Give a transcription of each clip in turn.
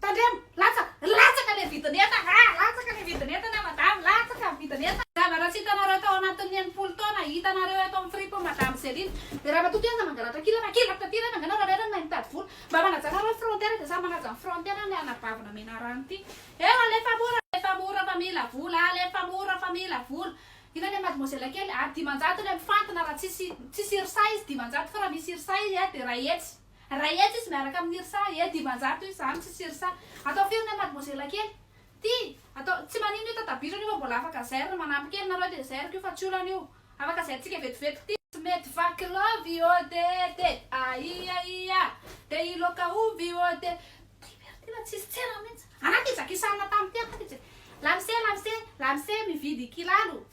Tandremo! Latsaka! Latsaka le vidin'entana a! Latsaka le vidin'entana madame! Latsaka ny vidin'entana! Zavatra tsy hitanareo tao anatin'ny enimpolo taona, hitanareo eto amin'ny fripo madame Céline. Dia raha matoa Teza mangalatra kila na kila taty ireny, angano raha reraka mahay mitady vola. Mba manaja nareo ny frontière dia samy manaja ny frontière ny anabavy namena rano ity. Eo alefa mora, alefa mora fa mila vola, alefa mora fa mila vola. Inona le mademoiselle kely a? Dimanjato le mifantina raha tsisy tsisy irsa izy dimanjato fa raha misy irsa izy dia iray hetsy. Ray etsy izy miaraka amin irsa e dimanjato izy zany tsisy irsa atao firy ny an mademoiselle kely ty atao tsy manino io tatabiso anio fa mbola afaka zairina manampy kely nareo de zairiko io fa tsy olana io afaka zaintsika vetivetika ty tsy mety vaky love i odette aia ia de i loka ovy i odette ty very ty la tsisy tsena mintsy ana ty zakisana tam ty ana ty je lamse lamse lamse mividy kilalo.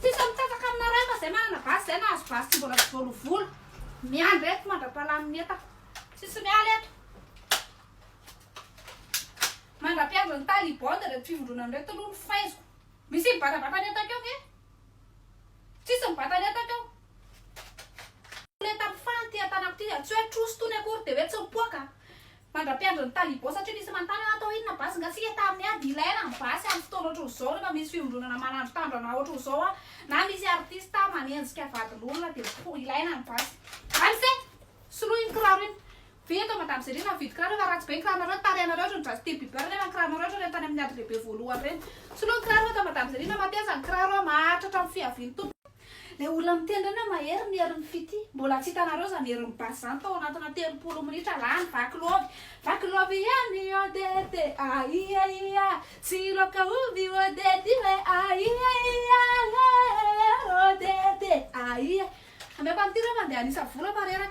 Tsisy mitsetsaka amina ray fa zay manana basy zay nahazo basy tsy mbola voalovolo miandry eto mandra-pahalany ny etako tsisy miala eto mandra-piandry ny taliban de reto fivondronana reto aloha ny faiziko misy mibatabata ny etako eo ve tsisy mibata ny etako eo le tamin'ny fany ty an-tanako ty tsy hoe troso tony akory de hoe tsy mipoaka Mandra-piandry ny talibans satria misy manontany hoe atao inona basy ngatsika tamin'ny ady ilaina ny basy amin'ny fotoana ohatr'izao rehefa misy fiombonana manandro tandrana ohatr'izao na misy artista manenjika vadin'olona dia ilaina ny basy any fe soloy iny kiraro iny ve eto madame Zélie nahavidy kiraro efa ratsy be ny kiranareo tarehanareo ohatran'ny Justin Bieber nefa ny kiranareo ohatran'ireny tany amin'ny ady lehibe voalohany ireny soloy ny kiraro eto madame Zélie na mateza ny kiraro maharitra hatramin'ny fiavian'ny tompony Ilay olona miteny ireny hoe mahery ny herin'ny fitia. Mbola tsy hitanareo izany herin'ny basy izany tao anatina telopolo minitra lany vaky love vaky love ihany odette aia ia tsy loka ovy odette io e aia ia eh odette aia ameko an'ity reo mandeha hanisa vola fa reraka